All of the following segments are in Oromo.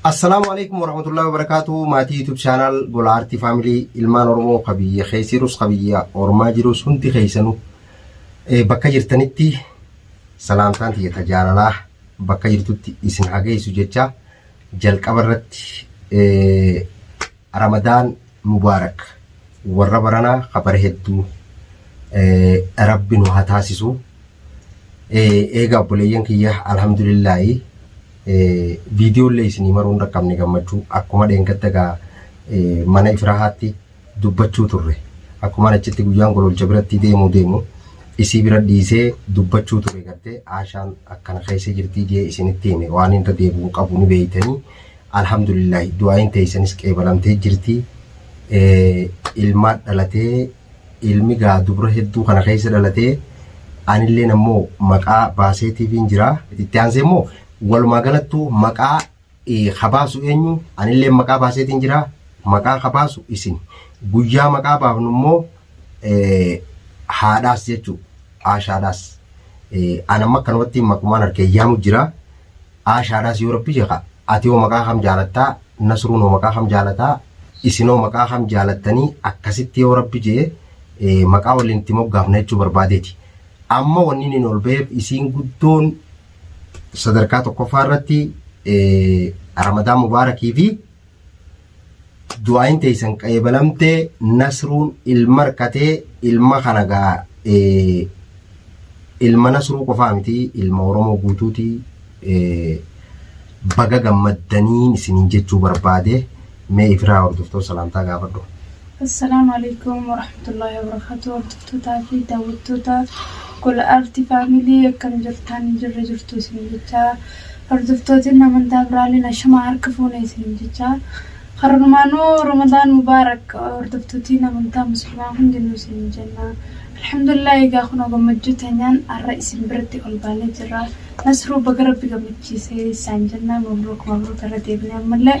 Assalaamu alaikum warahmatullahi wabarakatuh maatii YouTube channel Gola Arti Family ilmaan Oromoo ka biyya keessa jirus ka biyya ormaa jirus hundi keessanu eh, bakka jirtanitti salaamtaan tiyya ta jaalalaa bakka jirtutti isin hageessu jecha jalqaba irratti eh, Ramadan Mubarak warra barana ka bara heddu rabbi nu ha taasisu eega obboleeyyan kiyya alhamdulillahi video illee isinii maruu hin dhaqqabne gammachuu akkuma dheengadda gaa mana ifrahaatti dubbachuu turre akkuma achitti guyyaan gololcha biratti deemuu deemu isii bira dhiisee dubbachuu ture gartee aashaan akkana keessa jirtii jee isinitti hime waan irra deebi'u qabu ni beeytanii Alhamdulillahi du'aayiin teeysanis qeebalamtee jirti ilmaat dhalatee ilmi gaa dubra hedduu kana keessa dhalatee anilleen ammoo maqaa baaseetiifiin jira itti aansee immoo walumaa galattuu maqaa ka baasu eenyu anilleen maqaa baaseetiin jira maqaa ka baasu isin guyyaa maqaa baafnu immoo haadhaas jechuu aashaadhaas anamma akkanumatti maqumaan harkee yaamu jira. Aashaadhaas yoo rabbi jeqa ati hoo maqaa kam jaalatta nasruun hoo maqaa kam jaalata isin hoo maqaa kam jaalattanii akkasitti yoo rabbi jee maqaa waliin itti moggaafna jechuu barbaadeeti amma wanni inni ol ba'eef isiin guddoon sadarkaa tokkoffaa irratti ramadaan mubaarakii fi du'aayin teeysan qayebalamte nasruun ilma arkatee ilma kana gaa ilma nasruu qofaa miti ilma oromoo guutuuti baga gammaddaniin isiniin jechuu barbaade mee ifiraa hordoftoota salaamtaa gaafadhu. Assalaamu Aleykum Warahmatullaahi Wabarakaatuh Hordoftotaa fi Daawwattoota Gola Aarti Family akkam jirtaan jirra jirtu isin jechaa Hordoftootiin amantaa biraaleen ashamaa harka fuune isin jechaa Karumaanuu Ramadaan Mubaarak Hordoftootiin amantaa muslimaa hundinuu isin jenna Alhamdulillah egaa kunoo gammachuu teenyaan har'a isin biratti ol baanee jirra Nasruu baga rabbi gammachiisee isaan jenna mabruuk mabruuk irra deebinee ammallee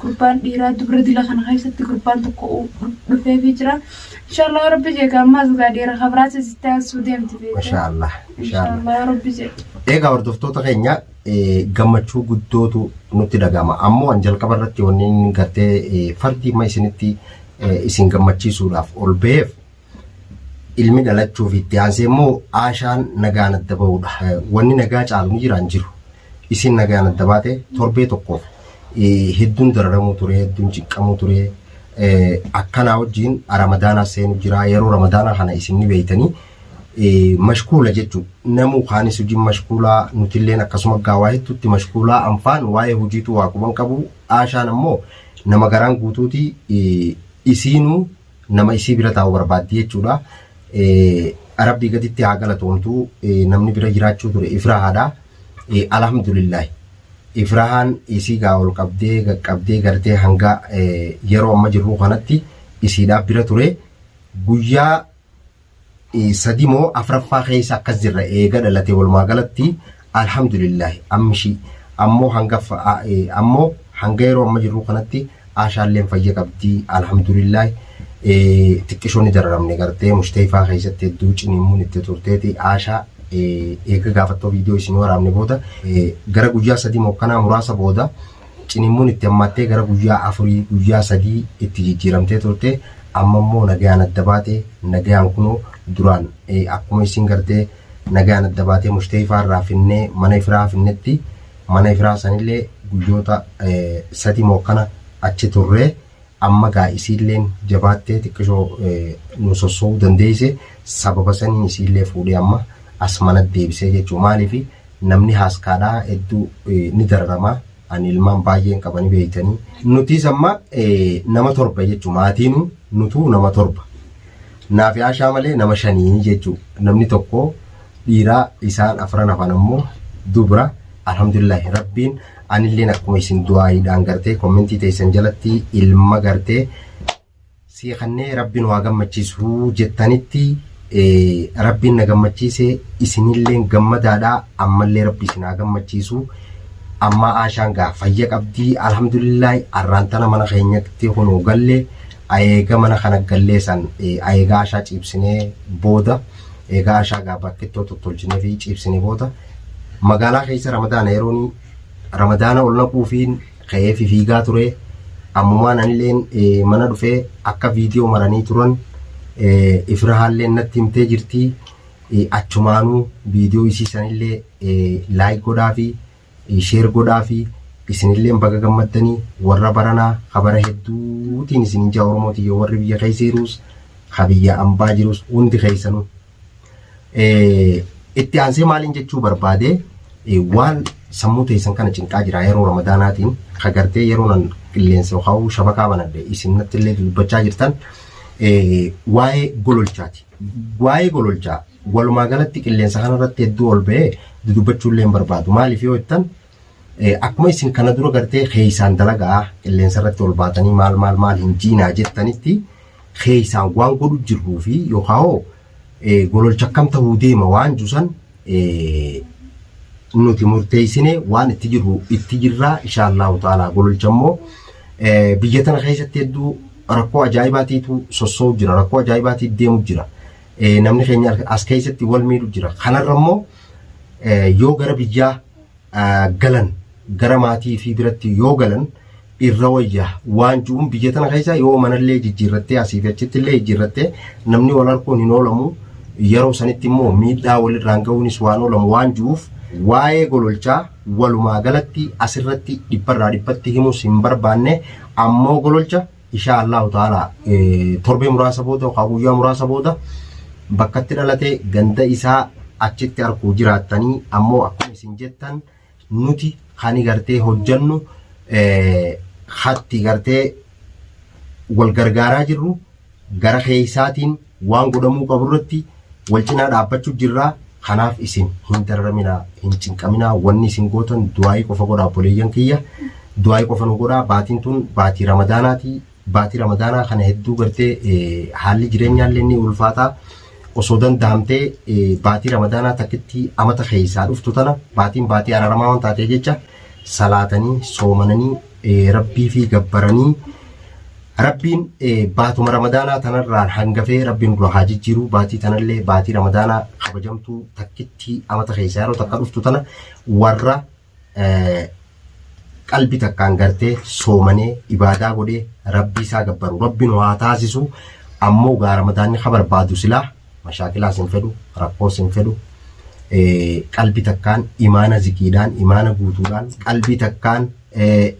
gurbaan dhiiraa dubra dila kana keessatti gurbaan tokko dhufeefii jira. Inshaallah yoo rabbi jeega ammaas gaa dhiira kabiraas isitti aansuu deemti beekte. Mashaa Allah. Mashaa Allah. Inshaallah yoo rabbi jeega. Egaa hordoftoota keenya eh, gammachuu guddootu nutti dhaga'ama. Ammoo an jalqaba irratti wanneen gartee eh, fardi ma isinitti eh, isin gammachiisuudhaaf ol ba'eef ilmi dhalachuu fi itti aansee immoo aashaan nagaan adda bahudha. Wanni nagaa caalu ni jiraan jiru. Isin nagaan adda baate torbee tokkoof hedduun dararamuu ture, hedduun ciqqamuu ture. Akkanaa wajjin ramadaanaa seenu jira. Yeroo ramadaanaa kana isin ni beeytanii mashkuula jechuudha. Namuu kaanis hojiin mashkuulaa nutilleen akkasuma gaawaa hedduutti mashkuulaa anfaan waa'ee hojiitu waa quban qabu. Aashaan ammoo nama garaan guutuuti isiinuu nama isii bira taa'u barbaaddi jechuudha. Rabbii gaditti haa galatoomtu namni bira jiraachuu ture ifrahaadha. Alhamdulillahi. Ifrahaan isii gaa ol qabdee qaqqabdee gartee hanga yeroo amma jirru kanatti isiidhaa bira ture. Guyyaa sadi moo afraffaa keessa akkas jirra eega dhalate walumaa galatti alhamdulillahi ammishii ammoo hanga ammoo hanga yeroo amma jirru kanatti aashaalleen fayya qabdi alhamdulillahi xiqqishoo ni dararamne gartee mushteefaa keessatti hedduu cinimuun itti turteeti aashaa eega gaafattoo viidiyoo isin waraabne booda gara guyyaa sadii moo kanaa muraasa booda Ciniinmuun itti hammaattee gara guyyaa afurii, guyyaa sadii itti jijjiiramtee turte. Amma immoo nagayaan adda baate. Nagayaan kunoo duraan akkuma isiin gartee nagayaan adda baatee Mushtayifaa irraa finnee mana ifiraa finnetti. Mana ifiraa sanillee guyyoota sadii moo akkana achi turree. Amma gaa isiilleen jabaattee xiqqishoo nu sosso'uu dandeeyse sababa saniin isiillee fuudhee amma as manatti deebisee jechuu maaliif namni haaskaadhaa hedduu ni dararamaa ani ilmaan baay'een qaba ni beeytanii nutiis amma nama torba jechuu maatiinu nutuu nama torba naafi aashaa malee nama shanii jechuu namni tokko dhiiraa isaan afran hafan ammoo dubra alhamdulillaahi rabbiin Anilleen akkuma isin du'aayiidhaan gartee kommentii teessan jalatti ilma gartee sii kannee rabbiin waa gammachiisuu jettanitti rabbiin na gammachiise isinilleen gammadaadha ammallee rabbi isin haa gammachiisu ammaa aashaan gaa fayya qabdii alhamdulillaahi arraan tana mana keenyatti kunoo galle ayeega mana kana gallee san ayeega aashaa ciibsinee booda eegaa aashaa gaa bakkittoo tottolchinee fi ciibsinee booda Magaalaa keessa Ramadaana yeroon Ramadaana ol naquufiin ka'ee fifiigaa ture. Ammumaan anileen mana dhufee akka viidiyoo maranii turan ifirahaalleen natti himtee jirti. Achumaanuu viidiyoo isii sanillee laayik godhaafi sheer godhaafi isinilleen baga gammaddanii warra baranaa ka bara hedduutiin isin ijaa Oromoo tiyya warri biyya keessa jiruus ka biyya ambaa jiruus hundi keessanuu Itti aansee maaliin jechuu barbaade waan sammuu teessan kana cinqaa jira yeroo ramadaanaatiin kagartee yeroo nan qilleensa yookaan shabakaa banadhe isin natti illee dubbachaa jirtan waa'ee gololchaati. Waa'ee gololchaa walumaa galatti qilleensa kanarratti hedduu ol ba'ee dudubbachuu illee hin barbaadu. Maaliif yoo jettan Akkuma isin kana dura gartee keessaan dalagaa qilleensa irratti ol baatanii maal maal maal hin jiinaa jettanitti keessaan waan godhu jirruu fi yookaan hoo gololcha akkam ta'uu deema waan jusan nuti murteessine waan itti jirru itti jirraa inshaallahu ta'ala gololcha immoo biyya tana keessatti hedduu rakkoo ajaa'ibaatiitu sossoo'u jira rakkoo ajaa'ibaatiitu deemu jira namni keenya as keessatti wal miidhu jira kanarra immoo yoo gara biyyaa galan gara maatii fi biratti yoo galan irra wayya waan ji'uun biyya tana keessa yoo manallee jijjiirrattee asii fi achitti illee jijjiirrattee namni wal arguun hin oolamu yeroo sanitti immoo miidhaa walirraan ga'uunis waan oolamu waan ji'uuf waa'ee gololchaa walumaa galatti asirratti dhibbarraa dhibbatti himus hin barbaanne ammoo gololcha Ishaa Allahu ta'ala torbee muraasa booda yookaan guyyaa muraasa booda bakkatti dhalate ganda isaa achitti arguu jiraattanii ammoo akkuma isin jettan nuti kani gartee hojjannu hatti gartee wal gargaaraa jirru gara keessaatiin Waan godhamuu qabu irratti wal cinaa dhaabbachuu jirra. Kanaaf isin hin dararaminaa, hin cinqaminaa. Wanni isin gootan du'aa'ii qofa godhaa obboleeyyan kiyya. Du'aa'ii qofa nu godhaa. Baatiin tun baatii Ramadaanaati. Baatii Ramadaanaa kana hedduu gartee eh, haalli jireenyaa illee ni ulfaataa. Osoo danda'amtee eh, baatii Ramadaanaa takkitti amata keessaa dhuftu tana baatiin baatii araramaa waan taatee jecha salaatanii, soomananii, eh, rabbii fi gabbaranii Rabbiin baatuma ramadaanaa tanarraan hangafee rabbiin dura haa jijjiiruu baatii tanallee baatii ramadaanaa kabajamtuu takkittii amata keessaa yeroo takka dhuftu tana warra qalbi takkaan gartee soomanee ibaadaa godhee rabbii isaa gabbaru rabbiin waa taasisu ammoo gaa ramadaanni ka barbaadu silaa mashaakilaas hin fedhu rakkoos hin fedhu qalbi takkaan imaana zikiidhaan imaana guutuudhaan qalbi takkaan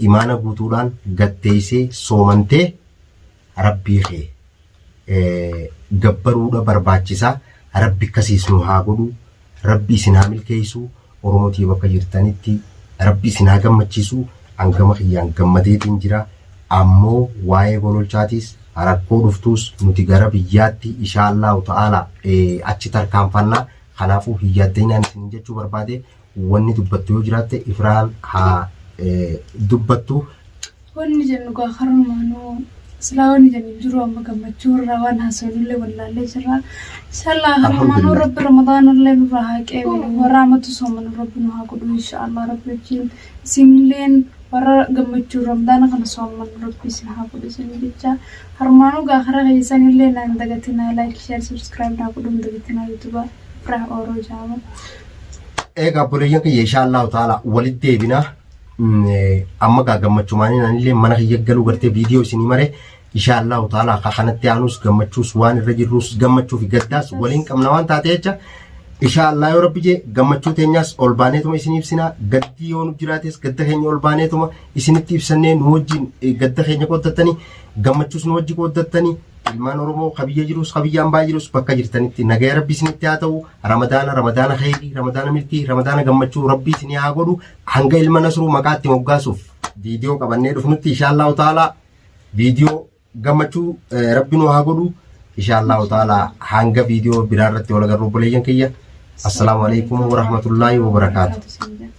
imaana guutuudhaan gad teessee soomantee rabbii kee gabbaruudha barbaachisaa rabbi akkasiis nu haa godhu rabbi isin haa milkeessu oromotii bakka jirtanitti rabbi isin haa gammachiisu hangama kiyyaan gammadeetiin jira ammoo waa'ee gololchaatiis rakkoo dhuftuus nuti gara biyyaatti ishaallaahu ta'aala achi tarkaanfannaa kanaafuu hin yaaddinaan isin jechuu barbaade wanni dubbattu yoo jiraatte ifraan haa dubbattu. Wanni jennu gaa karumaanuu silaa wanni jennu hin jiru amma gammachuu irraa waan haasofnullee wallaallee jirra. Inshallah karumaanuu rabbi ramadaanallee nurraa haa qeebilu warra amatu soomanu rabbi nu haa godhu inshallah rabbi wajjin isinilleen warra gammachuu ramadaana kana sooman rabbi isin haa godhu isin jecha karumaanuu gaa kara keessanillee naan dagatinaa like share subscribe naa godhuun dagatinaa yuutuba. Fira Oro Jama. Egaa obboleeyyan kiyya insha Allahu ta'ala walitti deebina. Mm, eh, Amma gaa gammachumaaniin anillee mana kiyya galuu gartee viidiyoo isinii maree insha Allahu ta'ala akka kanatti aanus gammachuus waan irra jirrus gammachuu fi gaddaas waliin qabna waan taate jecha insha Allah yoo rabbi jee gammachuu teenyaas ol baaneetuma isin ibsina gaddii yoo nu jiraates gadda keenya ol baaneetuma isinitti ibsannee nu wajjin eh, gadda keenya qooddattanii gammachuus nu wajji qooddattanii Ilmaan Oromoo ka biyya jirus ka biyya ambaa jirus bakka jirtanitti nagaya rabbi isinitti haa ta'u ramadaana ramadaana khayrii ramadaana milkii ramadaana gammachuu rabbi isinii haa godhu hanga ilma nasruu maqaatti moggaasuuf viidiyoo qabannee dhufnutti inshaallahu ta'ala viidiyoo gammachuu eh, rabbi nu haa godhu inshaallahu ta'ala hanga viidiyoo biraa irratti wal agarru obboleeyyan kiyya assalaamu alaikum warahmatullaahi wabarakaatu. Wabarakaatu.